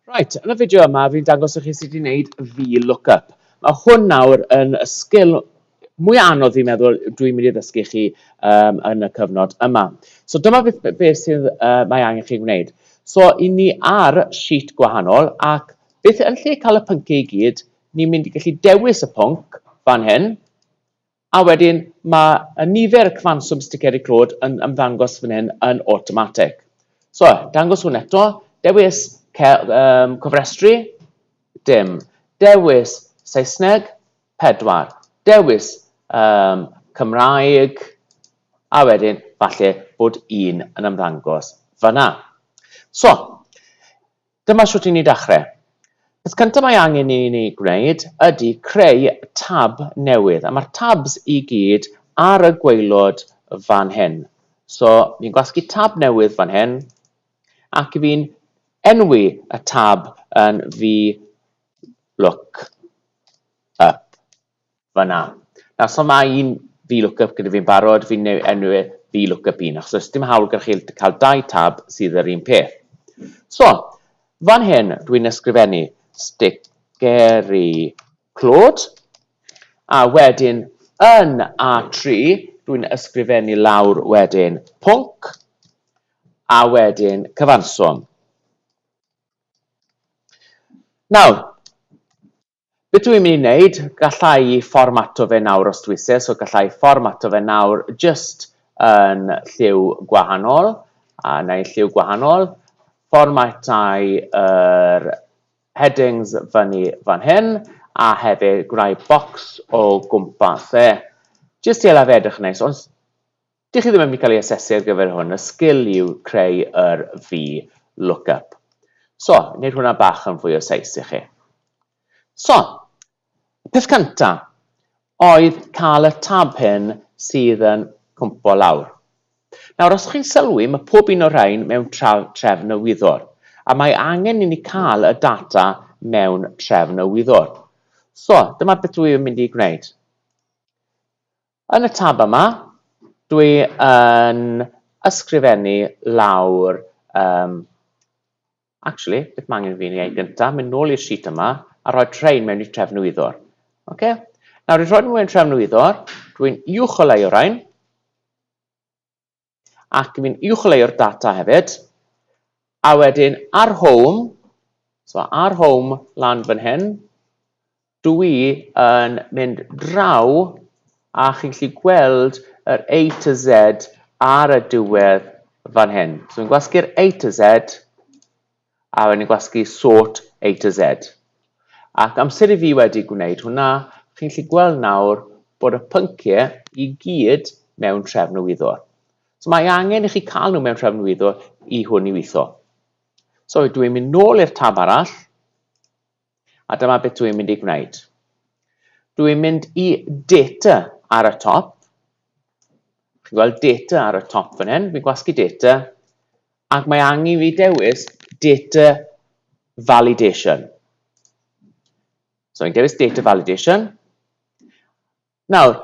Right, yn y fideo yma fi'n dangos i chi sut i wneud VLOOKUP. Mae hwn nawr yn y sgil mwy anodd fi'n meddwl dwi'n mynd i ddysgu chi um, yn y cyfnod yma. So dyma beth, beth sydd uh, mae angen chi wneud. So i ni ar sheet gwahanol ac beth yn lle cael y pynciau i gyd, ni'n mynd i gallu dewis y pwnc fan hyn A wedyn mae y nifer y cyfanswm sticeri clod yn ymddangos fan hyn yn awtomatig. So, dangos hwn eto, dewis um, cofrestru, dim, dewis Saesneg, pedwar, dewis um, Cymraeg, a wedyn falle bod un yn ymddangos fanna. So, Dyma shwt i ni dachre. Peth cynta mae angen i ni gwneud ydy creu tab newydd, a ma'r tabs i gyd ar y gwaelod fan hyn. So fi'n gwasgu tab newydd fan hyn, ac fi'n enwi y tab yn VLOOKUP. fan'na. Nawr, so mae un VLOOKUP gyda fi'n barod, fi'n neu- enw e VLOOKUP un, achos does dim hawl gyda chi cael dau tab sydd yr un peth. So, fan hyn, dwi'n ysgrifennu sticeri clod, a wedyn yn A3, dwi'n ysgrifennu lawr wedyn pwnc, a wedyn cyfanswm. Nawr, Beth dw i'n mynd i wneud? Galla i fformato fe nawr os dwi isie, so galla i fformato fe nawr jyst yn lliw gwahanol, a neu lliw gwahanol, fformatai yr headings fyny fan hyn, a hefyd gwneud bocs o gwmpas e, jyst i hela fe edrych yn neis, ond Dych chi ddim yn mynd i cael ei asesu ar gyfer hwn, y sgil yw creu yr fi lookup. So, wneud hwnna bach yn fwy o seis i chi. So, peth cynta oedd cael y tab hyn sydd yn cwmpo lawr. Nawr, os chi'n sylwi, mae pob un o'r rhain mewn trefn y wyddor, a mae angen i ni cael y data mewn trefn y wyddor. So, dyma beth dwi yn mynd i gwneud. Yn y tab yma, dwi yn ysgrifennu lawr, yym, actually, beth mae angen i fi wneud gyntaf, mynd nôl i'r sheet yma, a rhoi rhain mewn i trefnwyddwr. Okay? Nawr, i rhoi nhw mewn trefnwyddwr, dwi'n uwcholeuo rhain, ac fi'n uwcholeuo'r data hefyd, a wedyn ar home, so ar home lan fan hyn, dw i yn mynd draw a chi'n gallu gweld yr A to Z ar y diwedd fan hyn. So fi'n gwasgu'r A to Z, a o'n i'n gwasgu sort A to Z. Ac amser i fi wedi gwneud hwnna, chi'n gallu gweld nawr bod y pynciau i gyd mewn trefn y wyddor. So mae angen i chi cael nhw mewn trefn wyddor i hwn i weithio. So dwi'n mynd nôl i'r tab arall, A dyma beth dwi'n mynd i gwneud. Dwi'n mynd i data ar y top. Chi'n gweld data ar y top fan hyn, fi'n gwasgu data, ac mae angen fi dewis data validation. So fi'n dewis data validation. Nawr,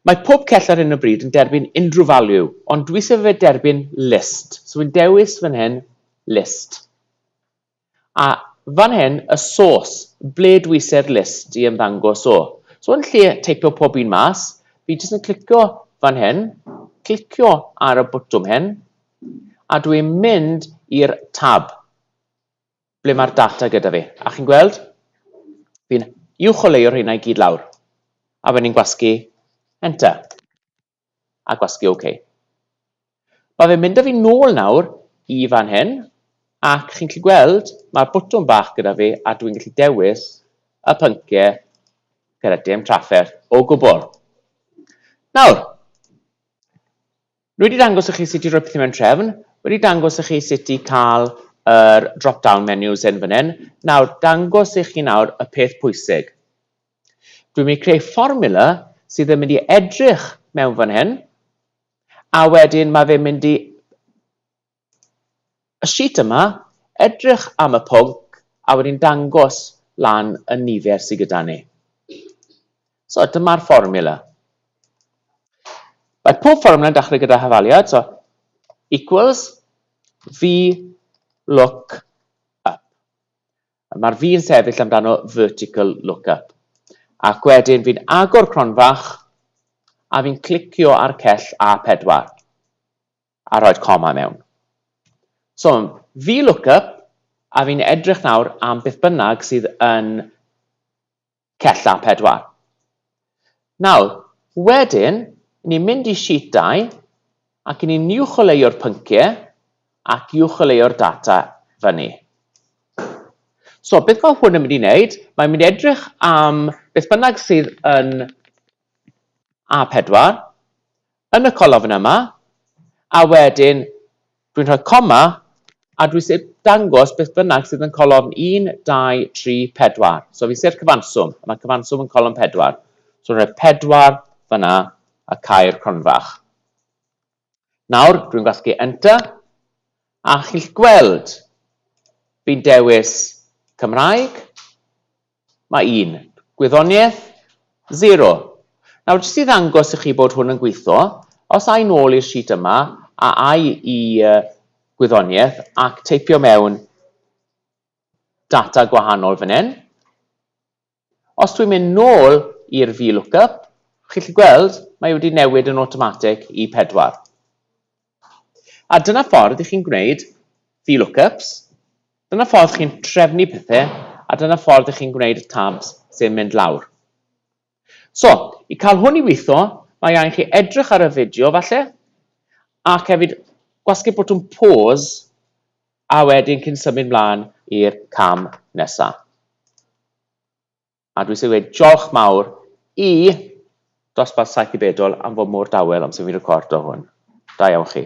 Mae pob cell ar hyn o bryd yn derbyn unrhyw value, ond dwi sef fe derbyn list. So fi'n dewis fan hyn list. A fan hyn y sôs, ble dwi ise'r list i ymddangos o. So yn lle teipo pob un mas, fi jyst yn clicio fan hyn, clicio ar y botwm hyn, a dwi'n mynd i'r tab ble mae'r data gyda fi. A chi'n gweld? Fi'n uwcholeuo rheina i gyd lawr. A wedyn ni'n gwasgu Enter. a gwasgu OK. Mae fe'n mynd â fi nôl nawr i fan hyn, ac chi'n gallu gweld mae'r botwm bach gyda fi a dwi'n gallu dewis y pynciau gyda dim trafferth o gwbl. Nawr, wedi dangos i chi sut i roi pethau mewn trefn, wedi dangos i chi sut i cael yr drop-down menus yn fan hyn, nawr dangos i chi nawr y peth pwysig. Dwi'n mynd i creu fformula sydd yn mynd i edrych mewn fan hyn, a wedyn mae fe'n mynd i y sheet yma, edrych am y pwnc, a wedyn dangos lan y nifer sydd gyda ni. So dyma'r fformula. Mae pob fformula yn dechrau gyda hafaliad, so equals v look up. Mae'r fi yn sefyll amdano vertical lookup. Ac wedyn fi'n agor cronfach a fi'n clicio ar cell A4 a rhoi'r coma mewn. So, fi lookup a fi'n edrych nawr am beth bynnag sydd yn Cella pedwar. Nawr, wedyn, i ni'n mynd i sheet dau, ac i ni'n uwcholeuo'r pynciau, ac uwcholeuo'r data fyny. So, beth mae hwn yn mynd i wneud? Mae'n mynd i edrych am beth bynnag sydd yn A4, yn y colofn yma, a wedyn dwi'n rhoi coma a dwi isie dangos beth bynnag sydd yn colofn 1, 2, 3, 4. So fi isie'r cyfanswm, a mae cyfanswm yn colofn 4. So rhoi 4 fyna a cau'r cronfach. Nawr, dwi'n gwasgu Enter, a chi'n gweld fi'n dewis Cymraeg, Mae un. Gwyddoniaeth? Zero. Nawr, jyst i ddangos i chi bod hwn yn gweithio, os ai nôl i'r sheet yma, a ai i gwyddoniaeth, ac teipio mewn data gwahanol fan hyn. Os dwi'n mynd nôl i'r VLOOKUP, chi'n gallu gweld, mae wedi newid yn awtomatig i pedwar. A dyna ffordd i chi'n gwneud VLOOKUPs, dyna ffordd chi'n trefnu pethe, a dyna ffordd i chi'n gwneud y tabs sy'n mynd lawr. So, i cael hwn i weithio, mae angen chi edrych ar y fideo falle, ac hefyd gwasgu botwm pause a wedyn cyn symud mlaen i'r cam nesaf. A dwi eisiau dweud diolch mawr i Dosbarth Saith i Bedol am fod mor dawel amser fi'n recordo hwn. Da iawn chi.